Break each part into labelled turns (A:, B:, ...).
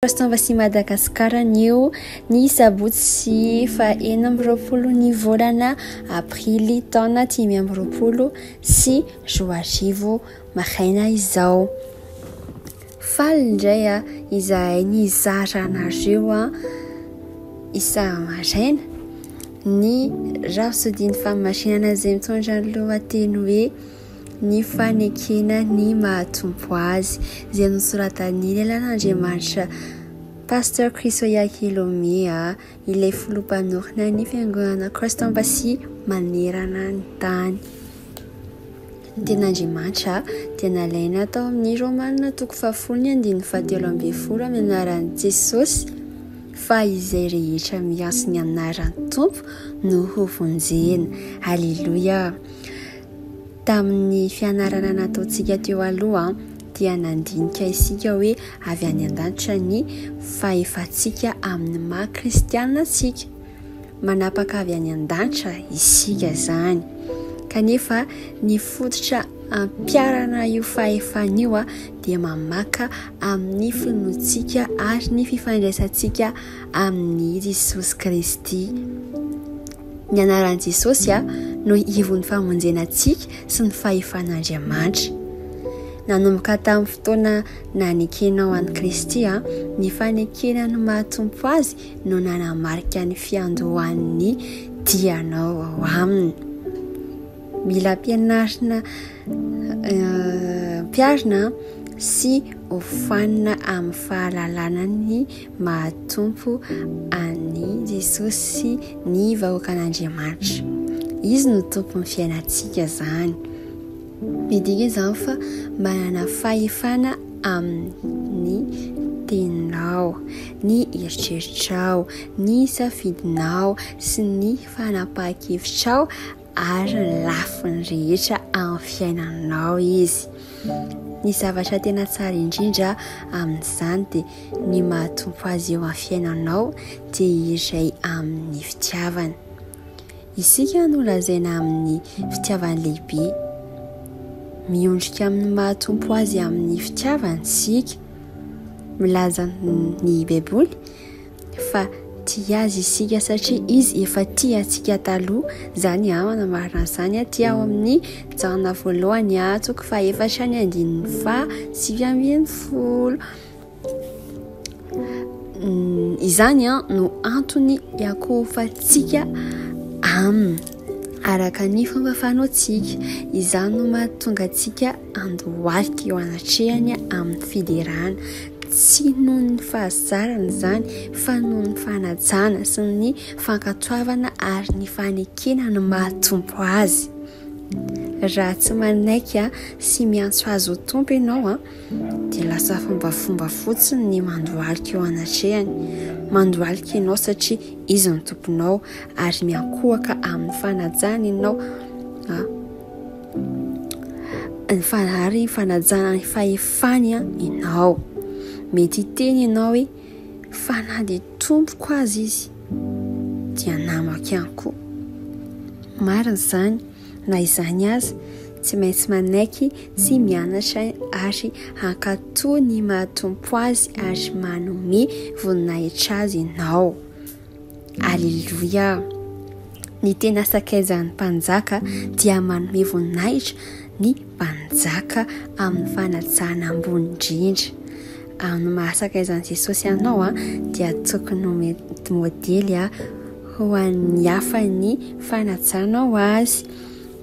A: Pastanva sy Madagascar anio ny sabotsy fa enina amby roapolo ny volana aprily taona dimy amby roapolo sy roa arivo maraina izao. Faly indray a izahay nizara anareo a isa maraina ny rafozodin'ny famarinana izay mitondra ny lohateny hoe. ny fanekena ny maha-Tompo Azy, izay nosoratan'ny Lelan'Andriamanitra Pasteur Chrisoya Kilomea, ilay Filoha Mpanorina ny Fiangonana Christ Embassy manerana ny tany. Ny ten'Andriamanitra dia nalaina tao amin'ny Romana toko fahafolo ny andininy fahatelo ambin'ny folo amin'ny anaran'i Jesosy fa izay rehetra miantso ny anaran'ny Tompo no hovonjena. Aleloia! Tamin'ny fianarana nataontsika teo aloha dia nandinika isika hoe avy any an-danitra ny fahefantsika amin'ny maha kristiana antsika. Manapaka avy any an-danitra isika izany. Kanefa ny fototra ampiarana io fahefana io dia mamaka amin'ny finoantsika ary ny fifandraisantsika amin'i Jesosy Kristy. Ny anaran'i Jesosy no ivon'ny famonjena antsika sy ny fahefan'Andriamanitra. Nanomboka tamin'ny fotoana nanekenao an'i Kristy, ny fanekena ny maha-Tompo azy no nanamarika ny fiandohan'ny dianao ao aminy. Mila ampianarina eh, ampiarina sy hofanina amin'ny fahalalana ny mahatompo an'i Jesosy ny vahoakan'Andriamanitra. Izy no tompon'ny fiainantsika izany. Midika izany fa manana fahefana amin'ny teninao, ny eritreritrao, ny safidinao sy ny fanapahan-kevitrao. ary ny lafiny rehetra amin'ny fiainanao izy. Ny zavatra tena tsara indrindra amin'izany dia ny mahatompo azy eo amin'ny fiainanao dia iray amin'ny fitiavana. Isika no lazaina amin'ny fitiavana lehibe. Miondrika amin'ny mahatompo azy amin'ny fitiavana isika. Milaza ny Baiboly. Fa tia azy isika satria izy efa tia antsika taloha. Izany aho anamarina an'izany aty ao amin'ny janona voalohany atsoko fa efatra ny andininy fa sivy ambin'ny folo. Mm, izany an no antony iakohofantsika aminy araka ny fomba fanaontsika. Izany no mahatonga antsika andohalika eo anatrehany amin'ny fiderana, tsy noho ny fahazarana izany fa noho ny fanajana sy ny fankatoavana ary ny fanekena ny maha-tompo azy. Raha tsy manaiky sy miantso azy ho tompo ianao, dia lasa fombafomba fotsiny ny mandohalika eo anatrehany. Mandohalika ianao satria izy no tomponao ary miankohaka amin'ny fanajana ianao. Ary ny fanajana ny fahefany ianao. Mety hiteny ianao hoe, fa na dia tompoko aza izy, dia namako ihany koa. Marina izany, na izany aza, tsy maintsy manaiky sy mianatra ary hankatò ny maha-tompo azy ary manome voninahitra azy ianao. Aleloia! Ny tena sakaizan'ny mpanjaka dia manome voninahitra ny mpanjaka amin'ny fanajana ambony indrindra. Amin'ny mahasakaizan'i Jesosy anao a, dia tokony ho modely a, ho an'ny hafa ny fanajanao azy.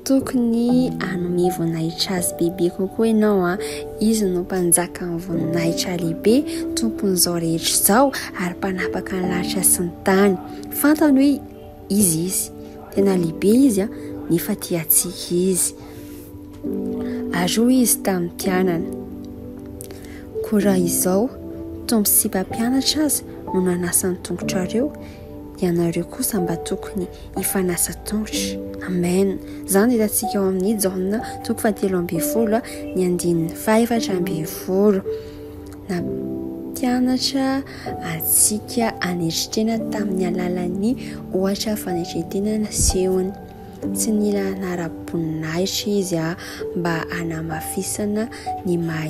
A: Tokony hanome voninahitra azy bebe kokoa ianao an! Izy no mpanjakan'ny voninahitra lehibe, tompon'izao rehetra izao ary mpanapaka ny lanitra sy ny tany. Fantany hoe iza izy, tena lehibe izy an, nefa tia antsika izy. Ary hoy izy tamin'ny mpianany, koa raha izao, Tompo sy mpampianatra aza no nanasa ny tongotrareo, ianareo kosa mba tokony hifanasa tongotra. Amen. Izany hitantsika ao amin'ny Jaona toko fahatelo ambin'ny folo ny andininy fahefatra ambin'ny folo. Nampianatra antsika anetritena tamin'ny alalan'ny ohatra fanetretena nasehony. Tsy nila nara-boninahitra izy mba hanamafisana ny maha